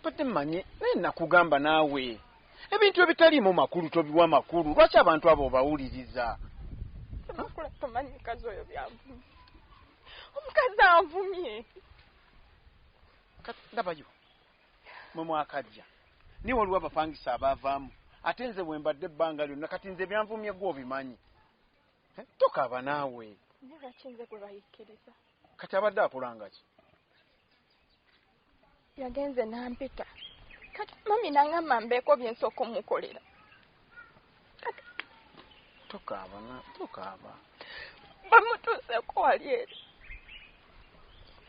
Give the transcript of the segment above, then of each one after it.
mbadde mmanyi naye nakugamba naawe ebintu ebitaliimu makulu tobiwa makulu lwaki abantu abo obawuliriza omukazi oyo byavumye omukazi avumye ndabayo mwe mwakajja naye waliwo abapangisa abaavaamu ate nze wembadde ebbanga lyonna kati nze ebyanvumye gwe obimanyi tokaaba naawe kati abadde akolangaki yagenze nampita kati mami nangamba mbeeko byensooka omukolera tokaaba na tokaaba bamutuuseko wali eri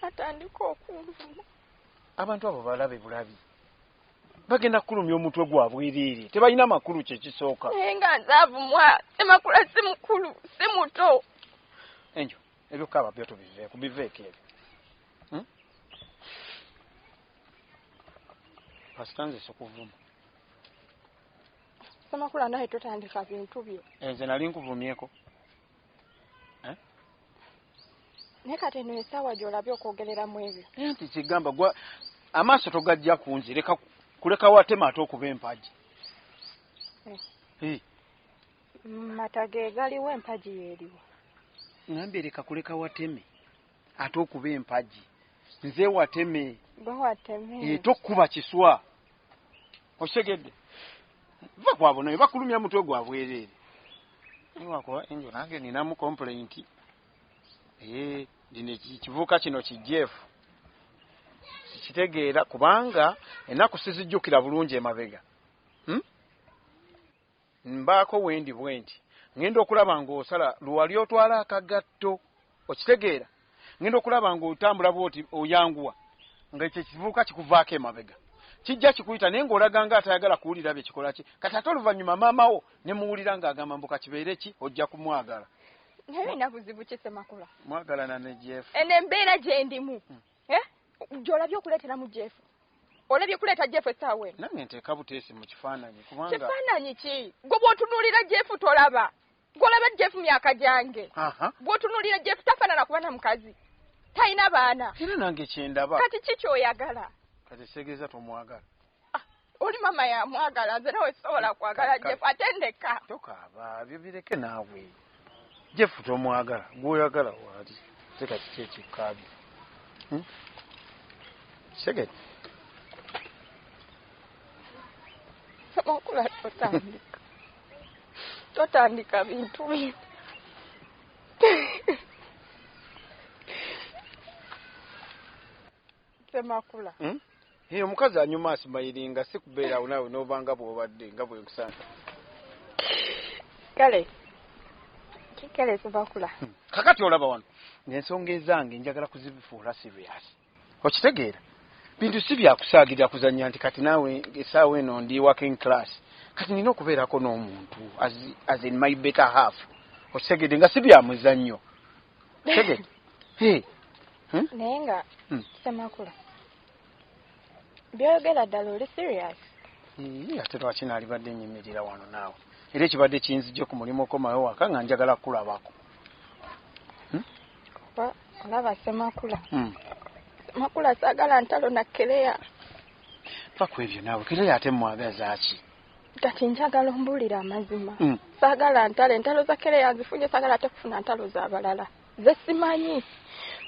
atandika okunvuma abantu abo balabe bulabi bagenda kukulumya omutwe gwa bwereere tebalina makulu kyekisooka naye nga nze avumwa emakula si mukulu si muto enjo ebyokukaaba byo tubiveeku biveeko ebyo hmm? pasita nze sikuvuma Samakula naye totandika bintu byo. Enze eh, nali nkuvumyeko. Eh? Naye kati eno esaawa gy'olabye okwogereramu ebyo. Eh, nti kigamba gwa amaaso togajja kunzi leka kuleka watema ate okuba empagi. Eh. Eh. Mata ge galiwo empagi yeeriwo. Ngambye leka kuleka wateme. ate okuba empagi nze wateme eh, tokuba kiswa okitegedde va kwabo naye bakulumya mutwe gwa bwereere wakuba enjo nange ninamu kompulenti eh, dino ekivuuka kino kijeefu sikitegeera kubanga ennaku sizijjukira bulungi emabega hmm? Mbaako wendi bwenti. Ngenda okulaba nga osala luwali otwala akagatto. Okitegeera? Ngenda okulaba nga otambula bwoti oyanguwa. Nga ekyo ekivubuka kikuvaako emabega. Kijja kikuyita naye nga olaga nga atayagala kuwulira bye kikola ki. Kati ate oluvannyuma maama wo ne muwulira nga agamba mbu kakibeere ki ojja kumwagala. Naye olina buzibu ki Ssemakula? Mwagalana ne Jeff. Eno embeera gyendimu. Hmm. eh jolabye okuletera mu jefu olabye kuleeta jefu esaawa eno nange nteeka buteesi mu kifaananyi kubanga kifaananyi ki gwe bwotunuulira jefu tolaba gwolaba jefu myaka gyange bwotunuulira jefu tafaanana kuba na mukazi talina baana era nange kyendaba kati ki kyoyagala kati segeeza tomwagala oli mama yamwagala nze nawe sisobola kwagala jeff ate ndeka tokaaba byo bireke naawe jeff tomwagala gwoyagala waali te kati kyekikkaabi hmm? segeti amakula totandika totandika bintu bino Semakula. Hmm? Hey, omukazi anyuma asimayiringa si kubeera awo naawe n'obanga bw'obadde nga bwe nkusanga. Kale. Kikale Semakula. Hmm. Kakati olaba wano. N'ensonga ezange njagala kuzifuula serious. Okitegeera? Bintu si bya kusaagirira kuzannya nti kati naawe essaawa eno ndi working class. Kati nina okubeerako n'omuntu as, as in my better half. Okitegedde nga si bya muzannyo. naye nga hmm. semakula byogera ddala oli serious ate lwaki naalibadde nyimirira wano naawe era ekibadde kinzijje ku mulimu okomayo waka nga njagala kukulabako hmm? kuba olaba semakula hmm. semakula saagala ntalo nakkereya paku ebyo naawe kereya ate mwagazaaki kati njagala ombuulira amazima mm. saagala ntalo entalo za kere yanzifunye saagala ate kufuna ntalo zabalala ze simanyi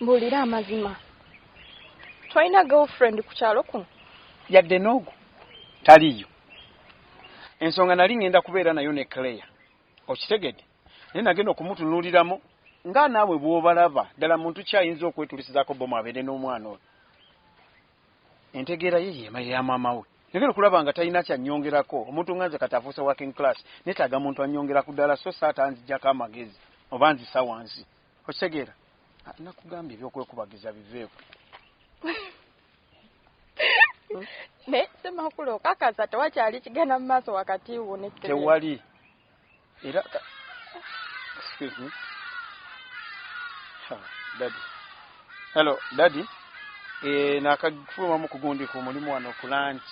mbuulira amazima tolina girlfriend ku kyalo kuno yadde noogu taliyo ensonga nali ŋŋenda kubeera nayo ne claire okitegedde naye nagenda okumutunuuliramu nga naawe bw'obalaba ddala muntu ki ayinza okwetulisizaako bomu abeere n'omwana oyo Entegeera ye yema ya maama we. Njagala okulaba nga talina ky'annyongerako. Omuntu nga nze kati afuuse working class, nneetaaga muntu annyongera ku ddaala sso si atanzigyako amagezi oba anzisa wansi. Okitegeera? Ah, nnakugambye eby'okwekubagiza biveeko. Naye Ssemakula okakasa tewakyali kigenda mu maaso wakati wo ne Ssebene? Tewali. Era excuse me. Ha, daddy. Hello, daddy. Eh, nakagfuluma mu kugundi ku mulimu wano ku lunch.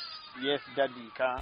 Yes, daddy ka.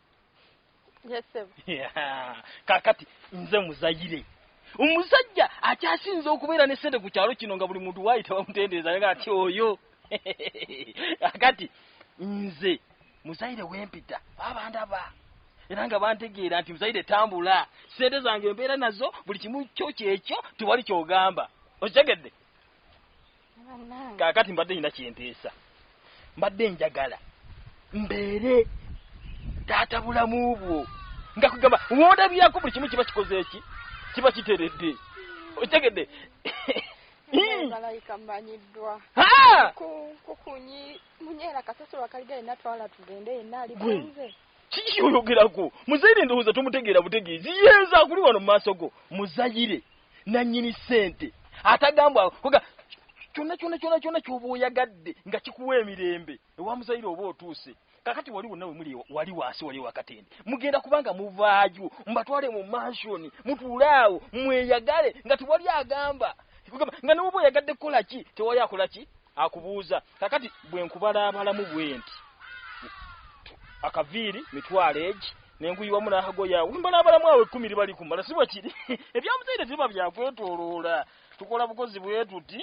kakati nze muzayire omusajja akyasinza okubeera ne sente ku kyalo kino nga buli muntu waayita bamutendereza nga ati oyo akati nze muzayire wempita babandaba era nga bantegeera nti muzayire tambula sente zange embeera nazo buli kimu kyo kyekyo tewali kyogamba okitegedde kakati mbadde nina kyenteesa mbadde njagala mbeere taata bulamu bwo nga kugamba wondabirako buli kimu kiba kikoze eki kiba kiteredde okitegedde malayika mmanyiddwa kukunyi munyera kasasiro akaliga yenna twala tugende yenna ali bunze kiki oyogerako muzayire ndowooza tomutegeera butegeezi yeeza akuli wano mu maaso go muzayire nannyini ssente atagambwa kuga kyonna kyonna kyonna kyonna kyoba oyagadde nga kikuwa emirembe ewa muzayire oba otuuse kakati wali wonna wemuli wali wansi wali wakatende mugenda kubanga muvaayo mubatwale mu mansioni mutuule awo mweyagale nga tewali agamba nga noba oyagadde kukola ki tewali akola ki akubuuza kakati bwe nkubalaabalamu bwenti akaviiri mitwalo egi nenguyi wamu nakagoya wembalaabalamu awo ekkumi liba likumala si bwekiri ebyamuzaire biba byakwetoloola tukola bukozi bwetuti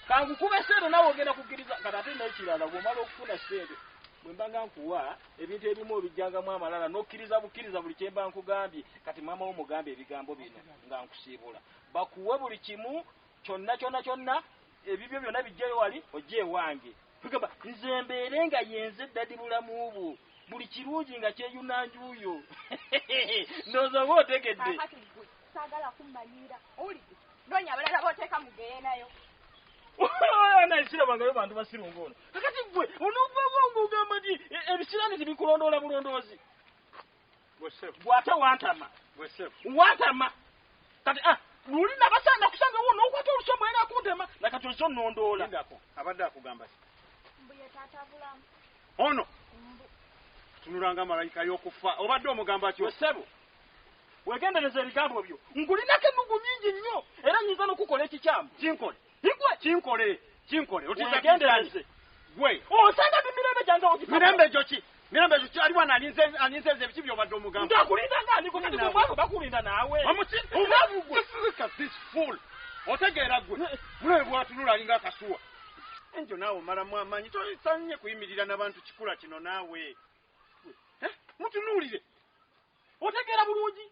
kankukube sente nawe ogenda kukkiriza kati ate nekirala bwomala okufuna sente bwembanga nkuwa ebintu ebimu obijjangamu amalala nokkiriza bukkiriza buli kyemba nkugambye kati maama wo mugambye ebigambo bino nga nkusiibula bakuwe buli kimu Kyonna, kyonna, kyonna, ebibyo byonna biggyeyo wali, ojje ewange. Tugamba, nze mbeere nga yenze ddadi bulamu bwo. Buli kirungi nga kyeyuna njuuyo. Ndowooza oba otegedde. Kakati ggwe, saagala kummanyiira. Owulidde? Noonya abalala b'oteeka mu geyeenayo. Ana isira bangayo bantu basiru ngono. Kakati gwe onovuwa ngugamba nti e, ebisirani tibikulondoola bulondoozi. gwate wantama wantama kati ah, luli nabasanga kusanga wo nokwata olusomo era kuntema nakati ozo nondoola abadde akugamba ono tunulanga malayika yokufa obadde omugamba ki osebo wegendereza ebigambo byo nkulinako ennugu nyingi nnyo era nyinza nokukola ekikyamu kinkole Bigwa kinkole, kinkole. Otiza gendereze. Gwe. Osanga bi mirembe jange ogifa. Mirembe joki. Mirembe joki ali wana alinze alinze nze biki byo baddo mugamba. Nda kulinda nga aliko kati gwe mwako bakulinda nawe. Omusi. Omavu gwe. Look at this fool. Otegera gwe. Mule bwatunula alinga kasuwa. Enjo nawo mara mwa manyi to sanye kuyimirira nabantu kikula kino nawe. Eh? Mutunulire. Otegera bulungi.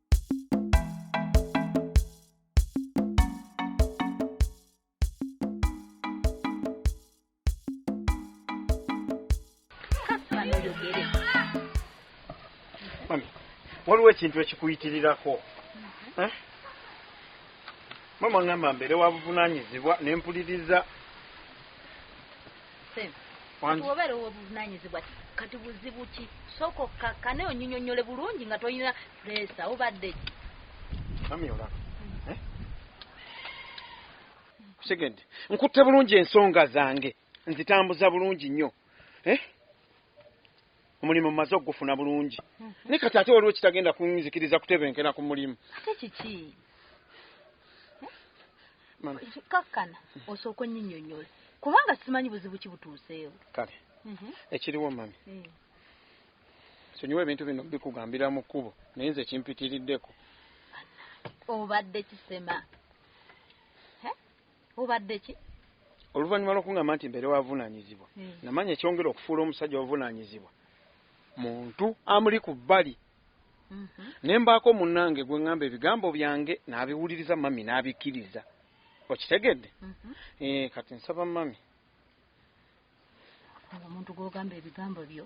waliwo ekintu ekikuyitirirako mhm. eh? mama ngamba mbeere wabuvunanyizibwa nempuliriza Ssebo, kati wobeera owobuvunanyizibwa kati buzibu ki? Sooka okkakkane onyinyonnyole bulungi nga tolina puleesa obadde ki? Mami olaba eh? kusigende nkutte bulungi ensonga zange nzitambuza bulungi nnyo eh? omulimu mmaze okugufuna bulungi hmm. naye kati ate waliwo kitagenda kunzikiriza kutebenkera ku mulimu ate kiki kakkana osooka onyinyonyola kubanga simanyi buzibu ki butuuseewo kale mhm. ekiriwo mami hmm. sonyiwa ebintu bino bikugambira mu kkubo naye nze kimpitiriddeko obadde kisema obadde ki oluvannyuma lw'okungamba nti mbeere wavunaanyizibwa hmm. namanya ekyongera okufuula omusajja wavunaanyizibwa muntu amuli ku bbali mhm. ne mbaako munnange gwe ŋŋamba ebigambo byange n'abiwuliriza mami n'abikkiriza okitegedde mhm. eh, kati nsaba mami omuntu gwogamba ebigambo byo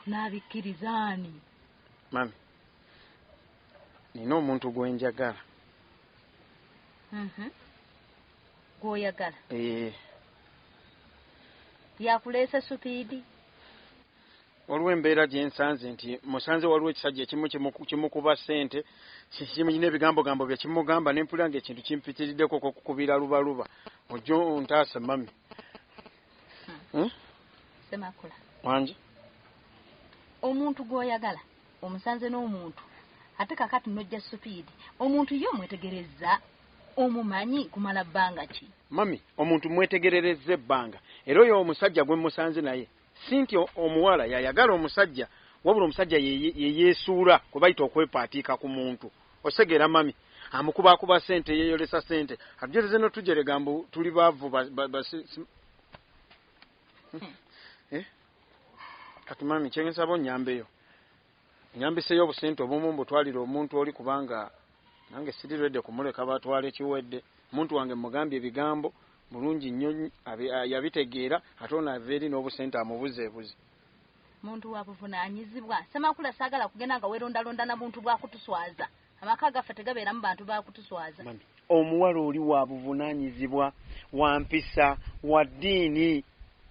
n'abikkiriza ani mami nina omuntu gwenjagala mhm. gwoyagala eh. yakuleese supiidi waliwo embeera gye nsanze nti musanze waliwo ekisajja ekimu kimukuba ssente kiyina ebigambogambo bye kimugamba ne mpulira nga ekintu kimpitiriddeko okukubira lubaluba ojjo ntaase mami hmm? semakula wangi omuntu gwoyagala omusanze n'omuntu ate kakati nojja supiidi omuntu ye omwetegereza omumanyi kumala bbanga ki mami omuntu mwetegerereza ebbanga era oyo omusajja gwe musanze naye Si nti omuwala y'ayagala omusajja, wabula omusajja ye yeesuula kwe bayita okwepaatiika ku muntu. Osegeera mami? Amukubaakuba ssente, yeeyolesa ssente, atujereze n'otujerega mbu tuli baavu ba, ba, ba, si, si. Hmm. Eh? Kati mami, kye nsaba onnyambeyo. nyambiseyo obusente obumu mbutwalire omuntu oli kubanga nange siri rede kumuleka batwale kiwedde omuntu wange mugambye ebigambo mulungi nnyo yabitegeera ate ono ava eri n'obusente amubuzeebuze muntu wabuvunanyizibwa semakula sagala kugenda nga werondalonda na buntu bwakutuswaza Amaka gaffe tegabeeramu bantu ba kutuswaza. Omuwala oli wa buvunaanyizibwa, wa mpisa, wa ddiini,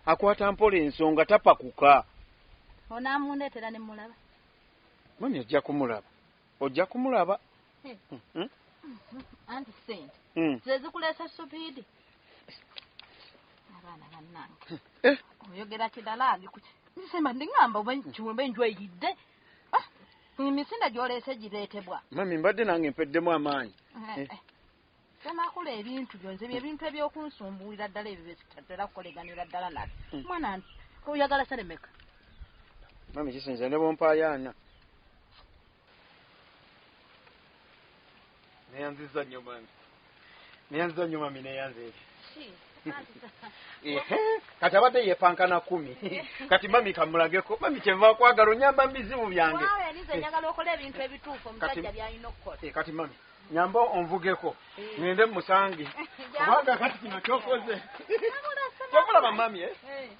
akwata mpola ensonga, tapakuka. Ono amundeetera ne mulaba. Mami ojja kumulaba, ojja kumulaba. Eh. Hmm, hmm. Anti ssente hmm. zezikuleesa supiidi. Abaana bannange eh. oyogera kidala nze semba ndi ngamba oba nkiwemba enjwa eyidde. emisinde gyoleese gireetebwa mami mbadde nange mpeddemu amaanyi eh, eh. eh. semakula ebintu byonze byebintu ebyokunsumbuulira ddala ebyo byetatera kukoleganira ddala nale hmm. mwana oyagala seremeka mami kisinza ne bompayaana neyanziza nyo mami neyanziza nyo mami neyanze kati abadde yepankana kumi kati mami kamulageko mami kyeva kwagala onyamba mubizibu byange eh, kati mami nyamba onvugeko eh. ngende musange kubanga kati kino kyokoze kyokulaba mami eh?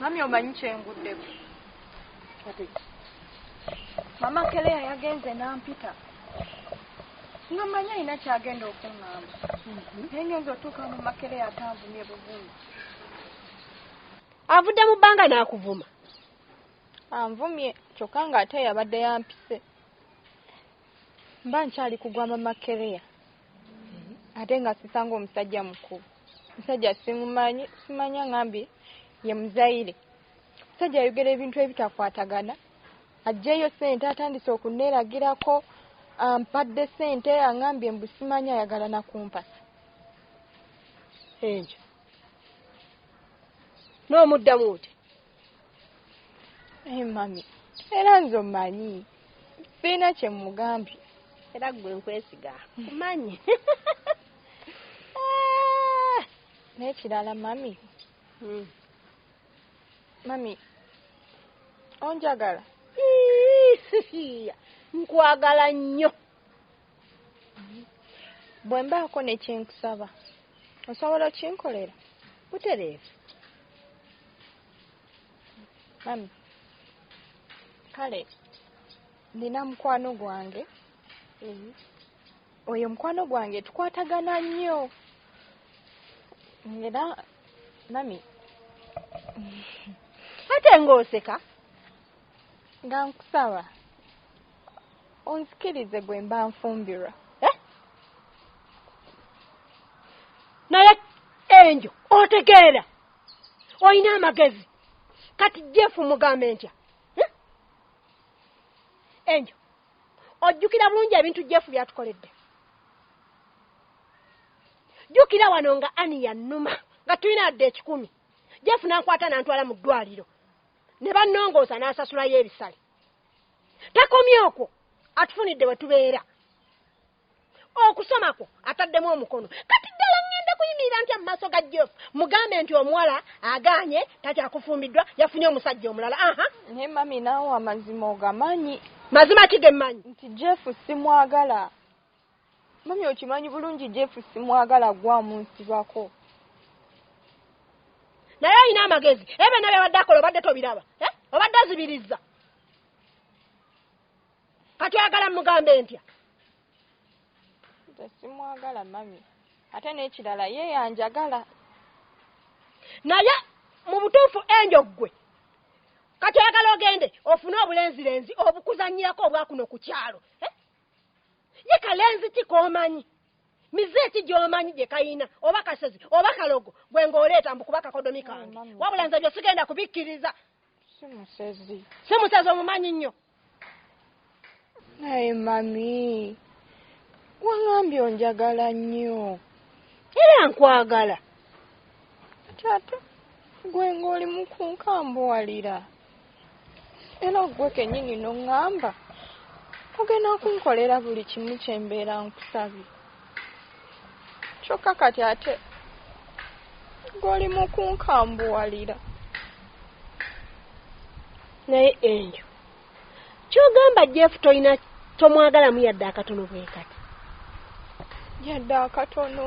mami omanyi kyenguddeko mama keleya yagenze nampita nga manyi alina kyagenda okuŋŋamba mhm. naye ngenza otuuka mu makeleya atanvumye buvumi avudde mu bbanga n'akuvuma anvumye kyokka ng'ate yabadde yampise mba nkyali kugwa mama keleya ate nga sisanga omusajja mukulu musajja simumanyi simanya ngambi ye muzaire musajja ayogera ebintu ebitakwatagana ajjeyo sente atandise okunelagirako ampadde sente angambye mbu simanyi ayagala nakumpasa ekyo nomuddamu oti Hey, mami era nze omanyi sirina kyemugambye era gwe nkwesiga manyi ah! nekirala mami hmm. mami onjagala nkwagala nnyo bwe mbaako ne kye nkusaba osobola okinkolera butereevu mami kale nina mukwano gwange mhm. oyo mukwano gwange tukwatagana nnyo era mami ate ng'oseka nga nkusaba onsikirize gwe mba nfumbirwa eh? naye enjo otegeera olina amagezi kati jefu mugambe ntya eh? enjo ojjukira bulungi ebintu jefu byatukoledde jjukira wano nga ani yannuma nga tulina adde ekikumi jefu nankwata nantwala mu ddwaliro ne bannongoosa n'asasulayo ebisale takomye okwo atufunidde we tubeera okusoma kwo ataddemu omukono kati ddala ŋŋenda kuyimirira ntya mu maaso ga jeff mugambe nti omuwala agaanye takyakufumbiddwa yafunye omusajja omulala aha naye mami naawe amazima ogamanyi mazima ki ge mmanyi nti jeff simwagala mami okimanyi bulungi jeff simwagala gwamu nsibako naye olina amagezi ebyo nabyo abadde akola obadde tobiraba eh? obadde azibirizza kati oyagala mugambe ntya simwagala mami ate n'ekirala ye yanjagala naye mu butuufu enjo ggwe kati oyagala ogende ofune obulenzirenzi obukuzanyirako obwakuno ku kyalo eh? ye kalenzi ki koomanyi mize ki gyomanyi gye kayina oba kasezi oba kalogo gwe ng'oleeta mbu kuba kakodomi kange wabula nze byo sigenda kubikkiriza simusezi simusezi omumanyi nnyo naye mami wangambye onjagala nnyo era nkwagala kyate gwe ng'oli mu kunkambuwalira era gwe kenyini noŋŋamba ogenda kunkolera buli kimu kye mbeera nkusabye kyokka kati ate goli mu kunkambuwalira naye enjo kyogamba jeff tolina tomwagalamu yadde akatono bwe kati yadde akatono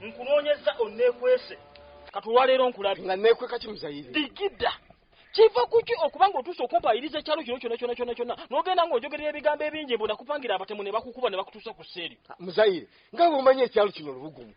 nkunoonyezza onneekwese kati olwaleero nkulabye nga neekweka ki muzayiri digida kiva kuki okuba nga otuuse okumpayiriza ekyalo kino kyona kyona kyona kyona n'ogenda ng'ojogerera ebigambo ebingi mbu nakupangira abatemu ne bakukuba ne bakutuusa ku seeri ah, muzayire nga bwomanyi ekyalo kino lubugumu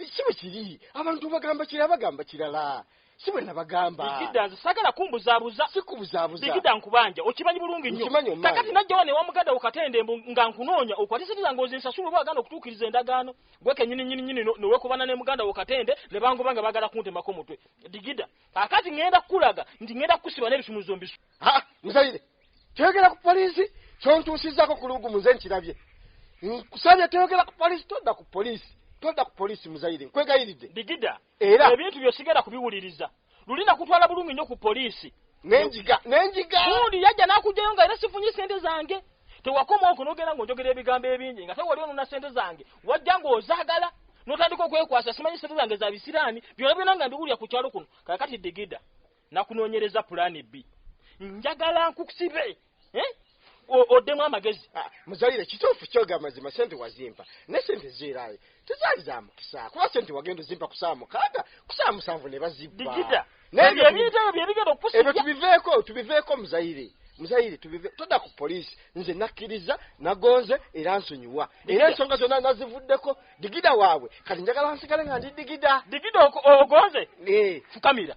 ekimu kiri abantu bagamba kira bagamba kirala si bwe nabagamba bigida nze sagala kumbuzabuza sikubuzabuza bigida nkubanja okimanyi bulungi nnyo kakati najjawa ne wamugada ukatende nga nkunoonya okwatisiza ngozi nsasula oba agana okutuukiriza endagaano gwe kenyini nyini nyini nowekubana ne muganda ukatende ne bangoba nga bagala kuntemako mutwe digida kakati ngenda kukulaga nti ngenda kukusiba n'ebisumuzo mbisu ha muzayire kyoyogera ku poliisi kyontuusizako ku lugumu nze nkirabye nkusabye toyogera ku poliisi todda ku poliisi todda ku poliisi muzayire nkwegayiridde digida era ebintu byo sigenda kubiwuliriza luli nakutwala bulungi nnyo ku poliisi nenjiga nenjiga gundi yajja nakugjayo nga era sifunye sente zange tewakoma okwo nogenda ngaonjogera ebigambo ebingi nga tewali onona sente zange wajja ngaozagala notandika okwekwasa simanyi sente zange za bisiraani byona byona nga mbiwulira ku kyalo kuno kakati digida nakunonyereza pulaani bbi njagala nkusibe eh? oddemu amagezi ah, muzalire kituufu kyoga amazima sente wazimpa ne sente zeeraayo tezaali za mukisa kuba sente wagenda ozimpa ku saa mukaaga ku saa musanvu ne bazibba ebyo tubiveeko tubiveeko muzayire muzayire tubive todda ku poliisi nze nakkiriza nagonze era nsonyiwa era ensonga zonna nazivuddeko digida waabwe kati njagala nsigale nga ndi digida digida ogonze eh. fukamira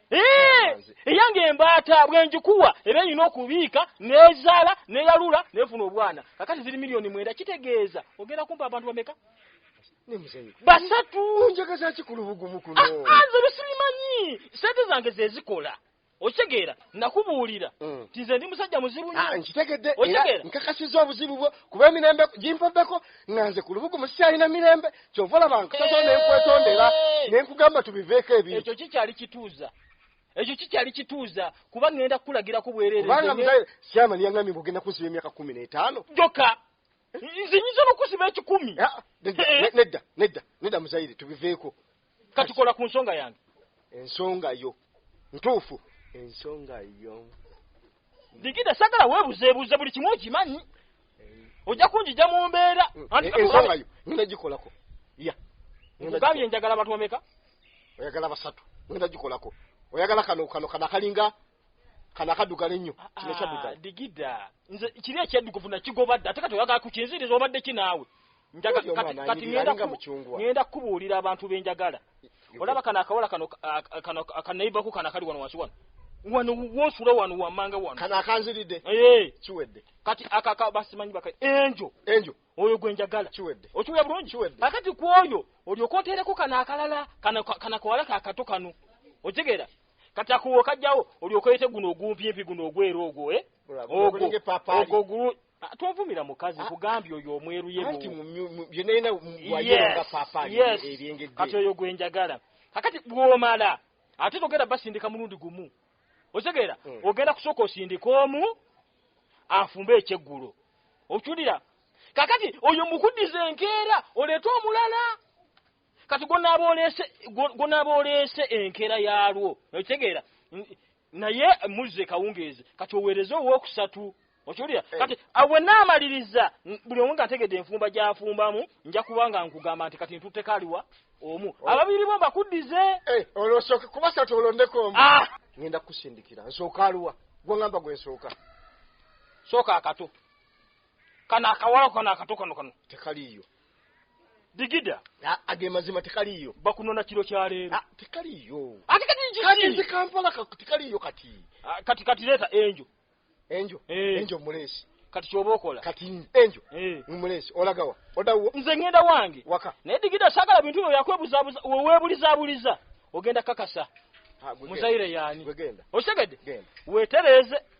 eyange embaata bwenjikuwa era erina okubiika nezaala neyalula nefuna obwana kakati ziri miliyoni mwenda kitegeeza ogenda kumpa abantu bameka basatu njagazaki ku lubugumu kuno ah, ah, nze lusibimanyi sente zange zezikola okitegeera nakubuulira mm. ti nze ndi musajja muzibu nyo ah, nkitegedde era nkakasiza obuzibu bwo kuba emirembe gimpobeko nga nze ku lubugumu sikyalina mirembe kyova olaba nkusaba nenkwetondera nenkugamba tubiveeko ebiri ekyo kikyali kituuza ekyo kikyali kituuza kuba ŋenda kukulagirako bwererekubanga muzaire syamani yaŋambye mbu ogenda kunsiba emyaka kumi n'etaano joka nze nyinza nokusiba ekikumi eh, eh. nedda nedda nedda muzaire tubiveeko katukola ku nsonga yange ensonga yo ntuufu ensonga yo digida sagala webuzebuuza buli kimu okimanyi ojja kunjija mu mbeera ensonga yo ngenda gikolako ya nkugambye njagala abantu bameka oyagala basatu ngenda gikolako oyagala kano kano kano akalinga kano akaddugala ennyo ah, kino kyaddugala ah, digida nze kiri ekyaddukuvu nakigoba dda ate kati oyagala kukinziriza obadde ki naawe ŋenda kukubuulira abantu be njagala olaba kano akawala kano akanaibaku kano akali wano wansi wano wano wonsula wano wamanga wano kano akanziridde eh. kiwedde kati akaka basimanyi baka enjo enjo oyo gwe njagala kiwedde okiwulira bulungi kiwedde akati ku oyo olyoka oteereko kano akalala kana kawala kakato kano okitegeera kati akuwo kajjawo olyoka oyete guno ogumpimpi guno ogweera ogwo eh? ogwo Ah, tovumira mukazi ah. kugambye oyo omweruyekati oyo gwenjagala kakati bwomala ate togenda basindika mulundi gumu otegeera hmm. ogenda kusooka osindika omu afumbe ekyeggulo okiwulira kakati oyo mukuddiza enkeera oleete omulala kati gwonaaba oleese enkeera yaalwo okitegeera naye muzze kawungeezi kati oweereze owookusatu okiwulira eh. kati awe ah, naamaliriza buli omu nga ntegedde enfumba gyafumbamu nja kuba nga nkugamba nti kati ntutteko aliwa omu oh. ababiri bo mbakuddize eh, olwosooke kuba satu olondeko omu ah! ŋenda kukusindikira nsooka aliwa gweŋamba gwe nsooka sooka akato kano akawala kano akato kano kano tekaliiyo digida age mazima tekaliyo bakunona kiro kya leero ah, tekaliyo ati kati njiki kati nzi kampala tekaliyo kati ah, kati kati leta enjo enjo eh. enjo mulesi kati kyoba okola kati enjo eh. mulesi olagawa odawo nze ngenda wange waka naye digida sagala bintu byo yakwebuzabuza wewebulizabuliza ogenda kakasa ah, muzaire yani okitegedde wetereze